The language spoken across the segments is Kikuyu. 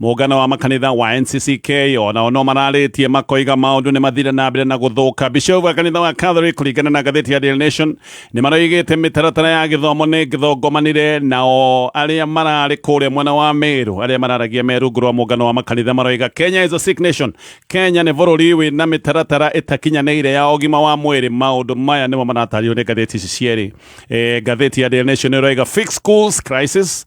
Mũngano wa makanitha wa NCCK ona ono mararĩtie makoiga maũndũ nĩ mathire na mbere na gũthũka. Bishop wa kanitha wa Catholic kũringana na ngathĩti ya Daily Nation nĩ maroigĩte mĩtaratara ya gĩthomo nĩ gĩthongomanire nao arĩa mararĩ kũrĩa mwena wa Meru arĩa mararagia me rungu rwa mũngano wa makanitha maroiga Kenya is a sick nation. Kenya nĩ bũrũri wĩ na mĩtaratara ĩtakinyanĩire ya ũgima wa mwĩrĩ. Maũndũ maya nĩmo maratario nĩ ngathĩti ici cierĩ. E, ngathĩti ya Daily Nation ĩroiga fix schools crisis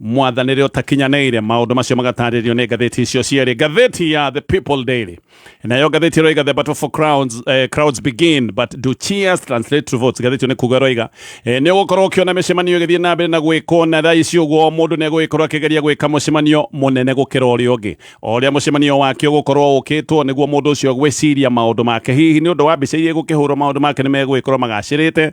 mwathanĩre ũtakinyanĩire maũndũ macio magatarĩrio nĩ ngathĩti icio cierĩ ngathĩti ya the people daily nayo ngathĩti ĩroiga the battle for crowns, eh, crowds begin but do cheers translate to votes ngathĩti ĩyo nĩ kuga ĩroiga eh, nĩ ũgũkorwo ũkĩona mĩcemanio ĩgĩthiĩ na mbere na gwĩkwo na thaa ici ũguo o mũndũ nĩ egũgĩkorwo akĩgeria gwĩka mũcemanio mũnene gũkĩra ũrĩa ũngĩ o ũrĩa mũcemanio wake ũgũkorwo ũkĩtwo nĩguo mũndũ ũcio gwĩciria maũndũ make hihi nĩ ũndũ wa mbica iria igũkĩhũrwo maũndũ make nĩ megũgĩkorwo magacĩrĩte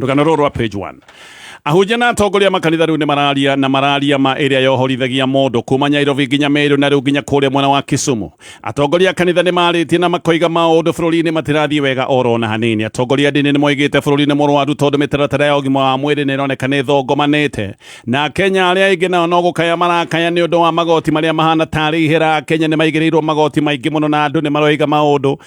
rũgano rũrũ rwa page 1 ahunjia na atongoria makanitha rĩu nĩ mararia na mararia ma ĩrĩa yohorithagia mũndũ kuma nyairobi nginya merũ na rĩu nginya kũrĩa mwena wa kisumu atongoria a kanitha nĩ marĩtie na makoiga maũndũ bũrũri-inĩ matirathiĩ wega oro na hanini atongoria ndini nĩ moigĩte bũrũri nĩ mũrwaru tondũ mĩtaratara ya ũgima wa mwĩrĩ nĩ ĩroneka nĩ thongomanĩte na kenya arĩa aingĩ nao no gũkaya marakaya nĩ ũndũ wa magoti marĩa mahana tarĩ ihera kenya nĩ maigĩrĩirwo magoti maingĩ mũno na andũ nĩ maroiga maũndũ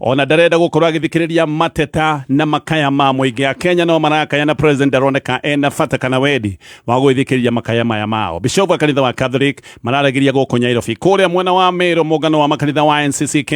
ona ndarenda gukorwo agithikiriria mateta na makaya ma muingi a Kenya no marakaya na president ndaroneka ena bata kana wendi wa gwithikiriria makaya maya mao bishofu a kanitha wa Catholic mararagiria guku Nyairobi kuria mwena wa Meru mungano wa makanitha wa NCCK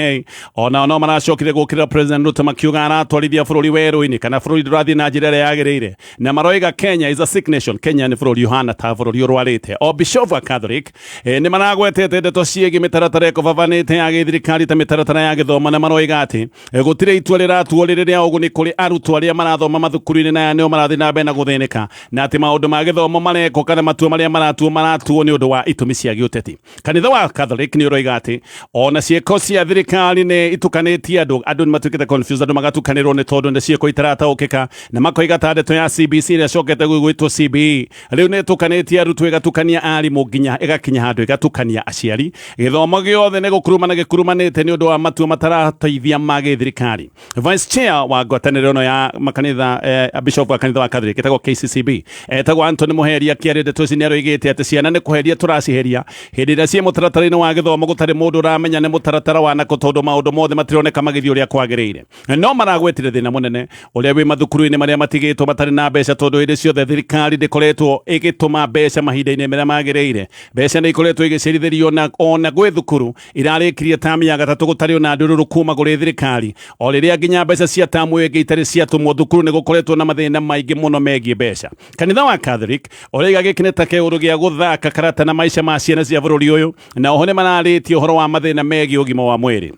ona no maracokire gukirira president Ruto makiuga aratwarithia bururi weru-ini kana bururi ndurathii na njira iria yagirire na maroiga Kenya is a sick nation Kenya ni bururi uhana ta bururi urwarite o bishofu a Catholic E, nĩ maragwetete ndeto ciĩgiĩ mĩtaratara ĩkobabanĩte ya gĩthirikari ta mĩtaratara ya gĩthomo na maroiga atĩ e, gũtirĩ itua rĩratuo rĩrĩ rĩa ũguni kũrĩ arutwo arĩa marathoma mathukuru-inĩ na aya nĩo marathiĩ na mbere na gũthĩnĩka na atĩ maũndũ ma gĩthomo marekwo kana matua marĩa maratuo maratuo nĩ ũndũ wa itũmi cia gĩũteti kanitha wa Catholic nĩ ũroiga atĩ ona ciĩko cia thirikari nĩ itukanĩtie andũ andũ nĩ matuĩkĩte confused andũ magatukanĩrwo nĩ tondũ nĩ ciĩko itarataũkĩka na makoiga ta ndeto ya CBC ĩrĩa cokete gwĩtwo CBE rä u nä tå kanä tie arutwo ĩgatukania arimũ nginya ĩgakinya handũ ĩgatukania aciari gĩthomo gĩothe nĩ gũkuruma na gĩkurumanĩte nĩ ũndũ wa matua matarateithia ma gĩthirikari vice chair wa ngwatanĩro ĩno ya makanitha eh, bishop wa kanitha wa catholic ĩtagwo kccb etagwo antony mũheria kĩarĩ ndeto ici nĩ aroigĩte atĩ ciana nĩ kũheria tũraciheria hĩndĩ ĩrĩa ciĩ mũtaratara-inĩ wa gĩthomo gũtarĩ mũndũ ũramenya nĩ mũtaratara wa nakũ tondũ maũndũ mothe matironeka magĩthiĩ ũrĩa kwagĩrĩire no maragwetire thina munene uria wi mathukuru-ini maria matigitwo matari na mbeca tondu hindi ciothe thirikari ndikoretwo igituma mbeca mahinda-ini maria magirire mbeca ni ikoretwo igicirithirio na ona gwi thukuru irarikirie tamu ya gatatu gutari ona ndururu kuma guri thirikari o riria nginya mbeca cia tamu ingi itari ciatumwo thukuru ni gukoretwo na mathina maingi muno megie mbeca kanitha wa Catholic uriga giki ni ta kiuru gia guthaka karata na maica ma ciana cia bururi uyu na oho ni mararitie uhoro wa mathina megie ugima wa mwiri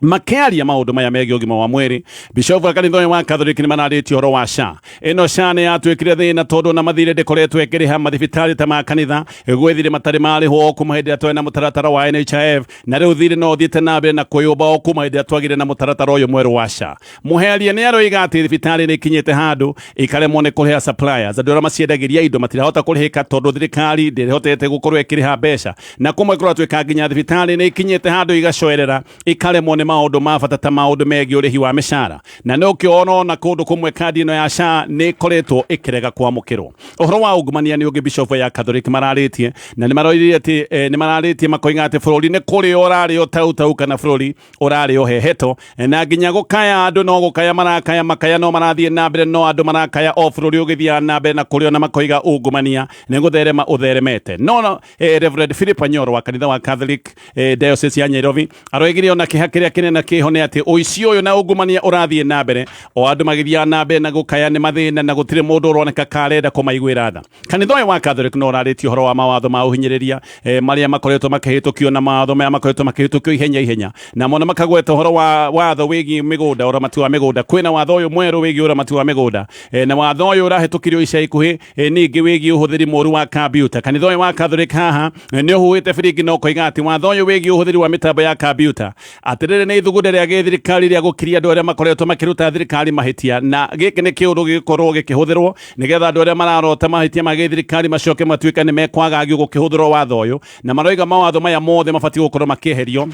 makiaria maundu maya megiä ũgima wa mwĩrĩ bishofu wa kanitha ũyũ wa kathoriki nĩ manarĩtie ũhoro wa sha ĩno sha nĩ yatuĩkire thĩna tondũ ona mathirĩ ndĩkoretwo ĩkĩrĩha mathibitarĩ ta ma kanitha gwĩ thirĩ matarĩ marĩhwo o kuma hĩndĩ ĩrĩa twarĩ na mũtaratara wa NHIF na rĩu thirĩ no ũthiĩte na mbere na kũyũmba o kuma hĩndĩ ĩrĩa twagire na mũtaratara ũyũ mwerũ wa sha Mũheria nĩ aroiga atĩ thibitarĩ nĩ ikinyĩte handũ ikaremwo nĩ kũrĩha suppliers andũ arĩa maciendagĩria indo matirahota kũrĩhĩka tondũ thirikari ndĩrĩhotete gũkorwo ĩkĩrĩha mbeca na kũmwe kũratuĩka nginya thibitarĩ nĩ ikinyĩte handũ igacoerera ikaremwo nĩ maũndũ ma bata ta maũndũ megiĩ ũrĩhi wa mĩcara na nĩ ũkĩona ona kũndũ kũmwe kandi ĩno ya SHA nĩ ĩkoretwo ĩkĩrega kwamũkĩrwo ũhoro wa ungumania nĩ ũngĩ bishofu ya kathoriki mararĩtie na nĩ maroirie atĩ eh, nĩ mararĩtie makoiga atĩ bũrũri nĩ kũrĩo ũrarĩo tautau kana bũrũri ũrarĩ ũhehetwo na nginya gũkaya andũ no gũkaya marakaya makaya no marathiĩ na mbere no andũ marakaya o bũrũri ũgĩthiaga na mbere na kũrĩ ona makoiga ungumania nĩ gũtherema ũtheremete no no eh, Reverend Philip Anyoro wa kanitha wa Catholic eh, Diocese ya Nairobi aroigire ona kĩha kĩrĩa kĩnene kĩho nĩ atĩ ũici ũyũ na ungumania ũrathiĩ na mbere o andũ magĩthiaga na mbere na gũkaya nĩ mathĩna na gũtirĩ mũndũ ũroneka karenda kũmaiguĩra tha Kanitha ũyũ wa Catholic no ũrarĩtie ũhoro wa mawatho ma ũhinyĩrĩria eh, marĩa makoretwo makĩhĩtũkio na mawatho maya makoretwo makĩhĩtũkio ihenya ihenya na mono makagweta ũhoro wa watho wĩgiĩ mĩgũnda ũramati wa mĩgũnda kwĩna watho ũyũ mwerũ wĩgiĩ ũramati wa mĩgũnda eh, na watho ũyũ ũrahĩtũkirio ica ikuhĩ eh, ningĩ wĩgiĩ ũhũthĩri mũru wa kambiuta kanitha ũyũ wa Catholic haha eh, nĩ ũhuhĩte biringi na ũkoiga atĩ watho ũyũ wĩgiĩ ũhũthĩri wa mĩtambo ya kambiuta atĩ rĩrĩ nĩ ithugunda rĩa gĩthirikari rĩa gũkiria andũ arĩa makoretwo makĩruta thirikari mahĩtia na gĩkĩ nĩ kĩũndũ gĩgĩkorwo gĩkĩhũthĩrwo nĩgetha andũ arĩa mararota mahĩtia ma gĩthirikari macoke matuĩke nĩ mekwagagio gũkĩhũthĩrwo watho ũyũ na maroiga mawatho maya mothe mabatiĩ gũkorwo makĩeherio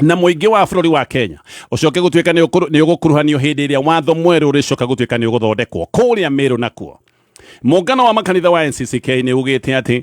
na mũingĩ wa bũrũri wa kenya ũcoke gũtuĩka nĩ ũkũru- nĩ ũgũkuruhanio hĩndĩ ĩrĩa watho mwerũ ũrĩcoka gũtuĩka nĩ ũgũthondekwo kũrĩa mĩrũ nakuo mũngano wa makanitha wa ncck nĩ ugĩte atĩ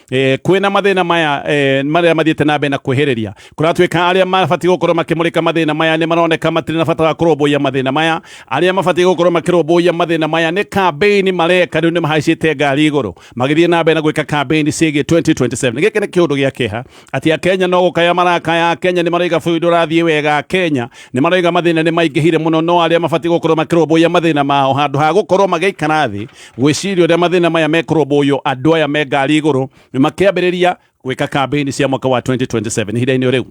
eh, kwina mathina maya eh, maria mathiite na mbere na kwihiriria kuratuika aria mabati gukorwo makimurika mathina maya ni maroneka matiri na bata wa kurumbuia mathina maya aria mabati gukorwo makirumbuia mathina maya ni campaign mareka riu ni mahaicite ngari iguru magithie na mbere na gwika campaign ciigie 2027 giki ni kiundu gia kiha ati akenya no gukaya marakaya akenya ni maroiga bũrũri ndũrathiĩ wega akenya ni maroiga mathina ni maingihire muno no aria mabati gukorwo makirumbuia mathina mao handu ha gukorwo magiikara thi gwĩciria ũrĩa mathĩna maya mekũrũmbũywo andũ aya me ngari igũrũ makĩambĩrĩria gwĩka kambĩini cia mwaka wa 2027 ihinda-inĩ rĩu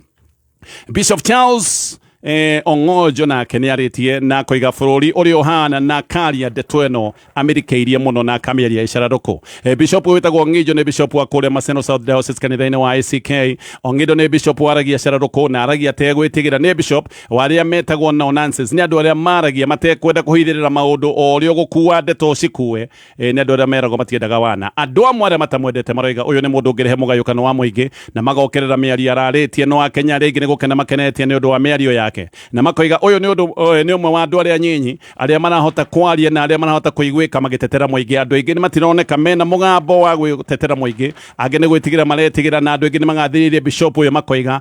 bishop charles eh, ong'onjo nake nĩ arĩtie na koiga bũrũri ũrĩa ũhana na karia ndeto ĩno amĩrikĩirie mũno na akamĩaria ĩcararũkũ eh, bishop ũyũ wĩtagwo ng'injo nĩ bishop wa kũrĩa maseno south diocese kanitha-inĩ wa ack ong'injo nĩ bishop waragia cararũkũ na aragia tegwĩtigĩra nĩ bishop wa arĩa metagwo no nonsense nĩ andũ arĩa maragia matekwenda kũhithĩrĩra maũndũ o ũrĩa ũgũkua ndeto cikue e, nĩ andũ arĩa meragwo matiendaga wana andũ amwe arĩa matamwendete maroiga ũyũ nĩ mũndũ ũngĩrehe mũgayũkano wa mũingĩ na magokerera mĩario ararĩtie no akenya arĩa aingĩ nĩ gũkena makenetie nĩ ũndũ wa mĩario yake na makoiga ũyũ nĩ ũndũ ũyũ nĩ ũmwe wa andũ arĩa nyinyi arĩa marahota kwaria na arĩa marahota kũiguĩka magĩtetera mũingĩ andũ aingĩ nĩ matironeka mena mũgambo wa gwĩtetera mũingĩ angĩ nĩ gwĩtigĩra maretigĩra na andũ aingĩ nĩ magathĩrĩirie bishop ũyũ makoiga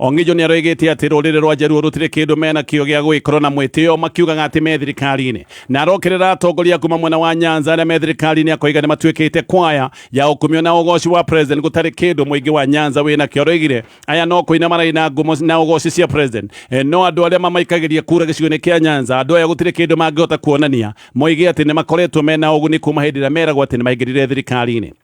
Ong'ĩnjũ nĩ aroigĩte atĩ rũrĩrĩ rwa Jaluo rũtirĩ kĩndũ mena kĩo gĩa gũgĩkorwo na mwĩtĩo makiugaga atĩ me thirikari-inĩ. Na arokerera atongoria kuma mwena wa Nyanza arĩa me thirikari-inĩ akoiga nĩ matuĩkĩte kwaya ya ũkumio na ũgoci wa president gũtarĩ kĩndũ mũingĩ wa Nyanza wĩna kĩo. Aroigire aya no kũina maraina ngumo na ũgoci cia president eh, no andũ arĩa mamaikagĩria kura gĩcigo-inĩ kĩa Nyanza andũ aya gũtirĩ kĩndũ mangĩhota kuonania moige atĩ nĩ makoretwo mena ũguni kuma hĩndĩ ĩrĩa meragwo atĩ nĩ maingĩrire thirikari-inĩ.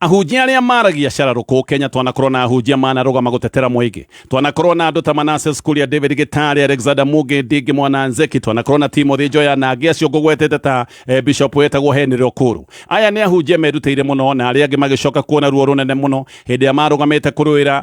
ahunjia arĩa maragia cararũkũ kenya twanakorwo na ahunjia manarũgama gũtetera mũingĩ twanakorwo na andũ ta manases kuria david gitari alexander muge ndingi mwana nzeki twanakorwo na timothy njoya na angĩ acio ngũgwetete ta eh, bishop wetagwo henry rokuru aya nĩ ahunjia merutĩire mũno na arĩa angĩ magĩcoka kuona ruo rũnene mũno hĩndĩ ĩrĩa marũgamĩte kũrũĩra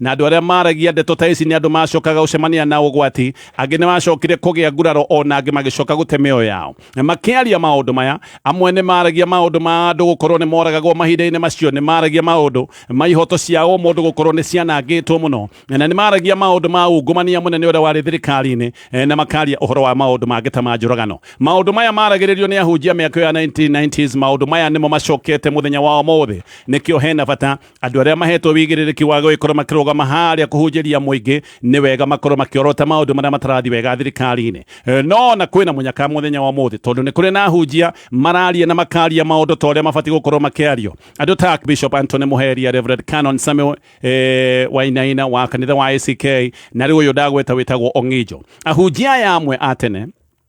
Na andũ arĩa maaragia ndeto ta ici nĩ andũ maacokaga gũcemania na ũgwati, angĩ nĩ maacokire kũgĩa nguraro, o na angĩ magĩcoka gũte mĩoyo yao. Makĩaria maũndũ maya, amwe nĩ maaragia maũndũ ma andũ gũkorũo nĩ moragagwo mahinda-inĩ macio, nĩ maaragia maũndũ ma ihooto cia ũmũndũ gũkorũo nĩ cianangĩtwo mũno, na nĩ maaragia maũndũ ma ungumania mũnene ũrĩa warĩ thirikari-inĩ, na makaria ũhoro wa maũndũ mangĩ ta ma njũragano. Maũndũ maya maaragĩrĩrio nĩ ahunjia mĩaka ĩyo ya 1990s, maũndũ maya nĩmo macokete mũthenya wa ũmũthĩ. Nĩkĩo he na bata Andũ arĩa mahetwo wĩigĩrĩrĩki wa gũgĩkorwo makĩrũgama harĩa kũhunjĩria mũingĩ nĩ wega makorwo makĩorota maũndũ marĩa matarathi wega thirikari-inĩ. E, no na kwĩna mũnyaka mũthenya wa ũmũthĩ tondũ nĩ kũrĩ na hunjia mararia na makaria maũndũ ta ũrĩa mabatiĩ gũkorwo makĩario. Andũ ta Bishop Anthony Mũheria, Reverend Canon Samuel e, Wainaina wa kanitha wa ACK na rĩu ũyũ ndagweta wĩtagwo Ong'ijo. Ahunjia aya amwe a tene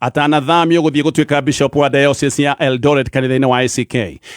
atanathamio gũthiĩ gũtuĩka bishop wa diocese ya Eldoret kanitha-inĩ wa ACK.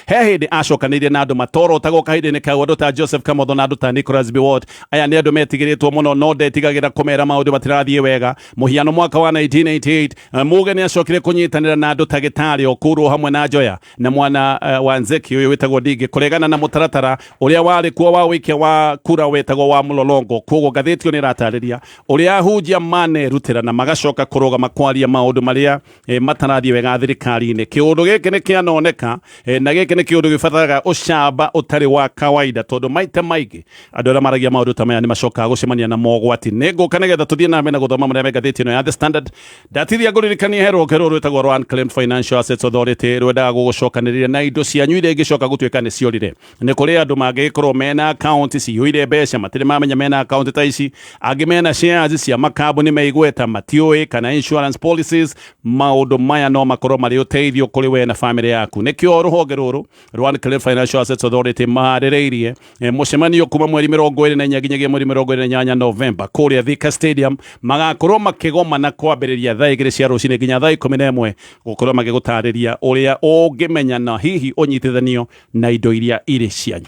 He hĩndĩ acokanĩirie na andũ matorotagwo kahinda-inĩ kau, andũ ta Joseph Kamotho na andũ ta Nicholas Biwott. Aya nĩ andũ metigĩrĩtwo mũno, no ndetigagĩra kũmera maũndũ matirathiĩ wega. Mũhiano mwaka wa 1988 Muge nĩ acokire kũnyitanĩra na andũ ta Gĩtarĩ, Okuru hamwe na Njoya. na mwana uh, wa nzeki uyu witagwo ndingi kuregana na mutaratara uria wari kuo wa wikia wa kura witagwo wa mulolongo koguo ngathĩti ĩyo nĩ ĩratarĩria ũrĩa ahunjia manerutĩra na magacoka kũrũgama kwaria maũndũ marĩa eh, matarathiĩ wega thirikari-inĩ kĩũndũ gĩkĩ nĩ kĩanoneka eh, na gĩkĩ nĩ kĩũndũ gĩbataraga ũcamba ũtarĩ wa kawaida tondũ maita maingĩ andũ arĩa maragia maũndũ ta maya nĩ macokaga gũcemania na mogwati nĩ ngũka nĩgetha tũthiĩ name na gũthoma marĩa me ngathĩti ĩno ya the standard ndatithia ngũririkania he rwonge rũrũ rwĩtagwo rwa Unclaimed Financial Assets Authority rwendaga gũgũcokanĩrĩria na indo cianyu iria ingĩcoka gũtuĩka nĩ ciorire nĩ kũrĩ andũ mangĩgĩkorwo mena akaunti ciyũire mbeca matirĩ mamenya mena akaunti ta ici angĩ mena shares cia makambuni meigweta matiũĩ kana insurance policies maũndũ maya no makorwo marĩ ũteithio kũrĩ we na famĩlĩ yaku nĩkĩo rũhonge rũrũ Rwan Clay Financial Assets Authority maharĩrĩirie eh, mũcemanio kuma mweri mĩrongo ĩrĩ na inya nginyagia mweri mĩrongo ĩrĩ na inyanya Novemba kũrĩa Thika Stadium magakorwo makĩgomana kwambĩrĩria thaa igĩrĩ cia rũcinĩ nginya thaa ikũmi na ĩmwe gũkorwo magĩgũtarĩria ũrĩa ũngĩmenya na hihi ũnyitithanio na indo iria irĩ cianyu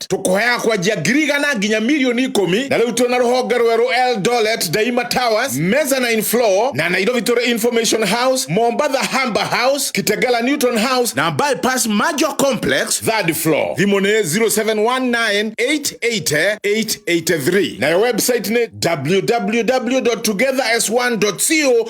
Eldoret tũkũheaga kwanjia ngiri igana nginya mirioni ikũmi na rĩu twĩna rũhonge rwerũ Eldoret Daima Towers mezzanine floor na Nairobi tũrĩ Information House Mombatha Hamba House Kitengela Newton House na Bypass Major Complex third floor thimũ nĩ 0719880883 nayo website nĩ www.togetherS1.co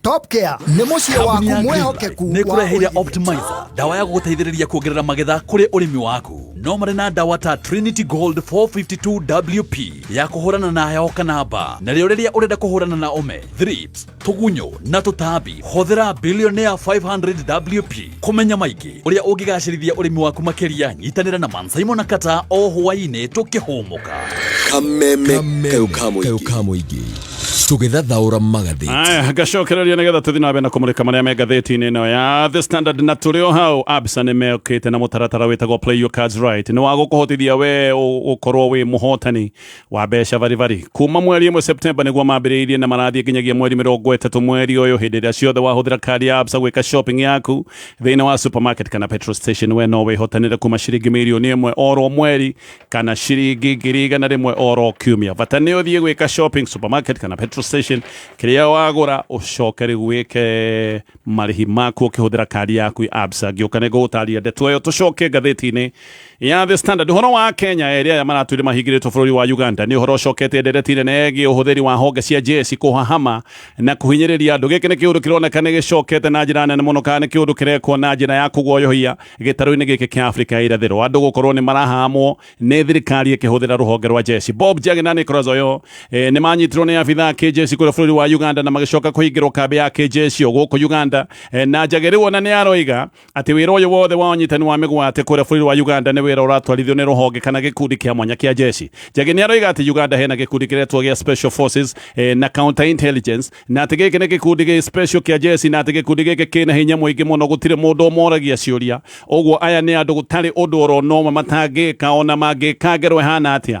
Top Care nĩ mũciĩ waku Kambuni ya mwehokeku Greenlight nĩ wa ĩkũreheire ũigithia. Optimizer ndawa ya gũgũteithĩrĩria kuongerera magetha kũrĩ ũrĩmi waku no marĩ na ndawa ta Trinity Gold 452WP ya kũhũrana na heho kana mbaa narĩo rĩrĩa ũrenda kũhũrana na ũme thrips tũgunyũ na tũtambi hũthĩra Billionaire 500WP kũmenya maingĩ ũrĩa ũngĩgacĩrithia ũrĩmi waku makĩria nyitanĩra na man simon na kata o hwainĩ tũkĩhũmũka kameme kau ka mũingĩ tũgĩthathaũra magathĩti aya ngacokereria nĩgetha tũthiĩ na mbere na kũmũrĩka marĩa me ngathĩti-inĩ ĩno ya the standard na tũrĩ o hau absa nĩ mekĩte na mũtaratara wĩtagwo play your cards right nĩ wa gũkũhotithia we ũ- ũkorwo wĩ mũhotani wa mbeca baribari kuma mweri ĩmwe septemba nĩguo mambĩrĩirie na marathiĩ nginyagia mweri mĩrongo ĩtatũ mweri ũyũ hĩndĩ ĩrĩa ciothe wahũthĩra kandi ya absa gwĩka shopping yaku thĩinĩ wa supermarket kana petrol station we no wĩhotanĩre kuma ciringi mirioni ĩmwe oro mweri kana ciringi ngiri igana rĩmwe oro kiumia bata nĩ ũthiĩ gwĩka shopping supermarket kana petrol station kĩrĩa wagũra ũcoke rĩu wĩke marĩhi maku ũkĩhũthĩra kandi yaku ya absa ngĩũka nĩ ngũgũtaria ndeto ĩyo tũcoke ngathĩti-inĩ ya The Standard horo wa Kenya erĩ arĩa maratwire mahingĩrĩtwo bũrũri wa Uganda nĩ ũhoro ũcoketie ndereti nene ĩgiĩ ũhũthĩri wa honge cia njeci kũhahama na kũhinyĩrĩria andũ gĩkĩ nĩ kĩũndũ kĩroneka nĩ gĩcokete na njĩra nene mũno kana nĩ kĩũndũ kĩrekwo na njĩra ya kũguoyohia gĩtarũ-inĩ gĩkĩ kĩa Afrika ya irathĩro andũ gũkorwo nĩ marahahamwo nĩ thirikari ĩkĩhũthĩra rũhonge rwa njeci Bob Njagi na Nicholas Oyo e, nĩ manyitirwo nĩ abitha a kĩnjeci kũrĩa bũrũri wa Uganda na magĩcoka kũhingĩrwo kambĩ ya kĩnjeci o gũkũ Uganda e, na Njagi rĩu ona nĩ aroiga atĩ wĩra ũyũ wothe wa ũnyitani wa mĩgwate kũrĩa bũrũri wa Uganda nĩ wĩra ũratwarithio nĩ rũhonge kana gĩkundi kĩa mwanya kĩa jeshi. Njagi nĩ aroiga atĩ Uganda hena gĩkundi kĩretwo gĩa Special Forces eh, na Counter Intelligence na atĩ gĩkĩ nĩ gĩkundi gĩ special kĩa jeshi na atĩ gĩkundi gĩkĩ kĩna hinya mũingĩ mũno gũtirĩ mũndũ ũmoragia ciũria. Ũguo aya nĩ andũ gũtarĩ ũndũ orona ũmwe matangĩka ona mangĩka ngero ĩhana atĩa.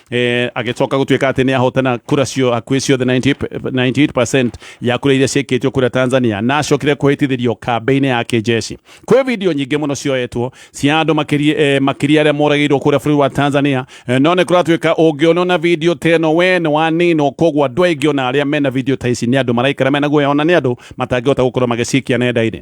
eh, agĩcoka gũtuĩka atĩ nĩ ahotana kura cio hakuhĩ ciothe 90 98% ya kura iria ciĩkĩtio kura Tanzania na acokire kũhĩtithĩrio kambĩ-inĩ ya kĩjeshi kwĩ video nyingĩ mũno cioetwo cia andũ makĩria eh, makĩria arĩa moragĩirwo kũrĩa bũrũri wa Tanzania eh, no nĩ kũratuĩka ũngĩonwo na video ta ĩno we nĩ waninwo koguo andũ aingĩ ona arĩa mena video ta ici nĩ andũ maraikara mena guoya ona nĩ andũ matangĩhota gũkorwo magĩcikia nenda-inĩ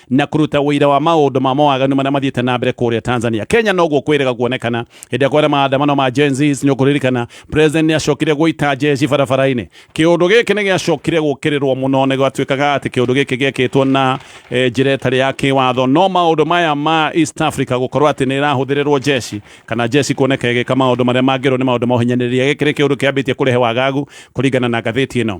na kũruta ũira wa maũndũ ma mawaganu marĩa mathiĩte na mbere kũrĩa Tanzania. Kenya noguo kwĩrĩga kuonekana hĩndĩ ĩrĩa maandamano ma Gen Zs nĩ ũkũririkana president nĩ acokire gũita jeshi barabara-inĩ. Kĩũndũ gĩkĩ nĩ gĩacokire gũkĩrĩrwo mũno na gwatuĩkaga atĩ kĩũndũ gĩkĩ gĩekĩtwo na e, njĩra ĩtarĩ ya kĩwatho. No maũndũ maya ma East Africa gũkorwo atĩ nĩ ĩrahũthĩrĩrwo jeshi kana jeshi kuoneka ĩgĩka maũndũ marĩa mangĩrwo nĩ maũndũ ma ũhinyanĩrĩria, gĩkĩ nĩ kĩũndũ kĩambĩtie kũrehe wagagu kũringana na ngathĩti ĩno.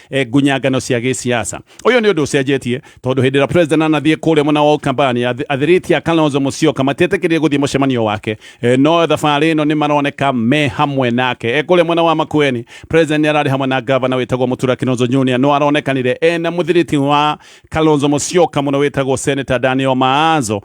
eh, ngunyangano cia gĩciaca ũyũ nĩ ũndũ ũcenjetie tondũ hĩndĩ ĩrĩa president anathiĩ kũrĩa mwena wa kambani athirĩti a kalonzo mũcioka matietĩkĩrire gũthiĩ mũcemanio wake eh, no thabarĩ ĩno nĩ maroneka me hamwe nake eh, kũrĩa mwena wa makueni president ararĩ hamwe na gavana wĩtagwo mũtura kinonzo junior no aronekanire ena mũthirĩti wa kalonzo mũcioka mũno wĩtagwo senator daniel maazo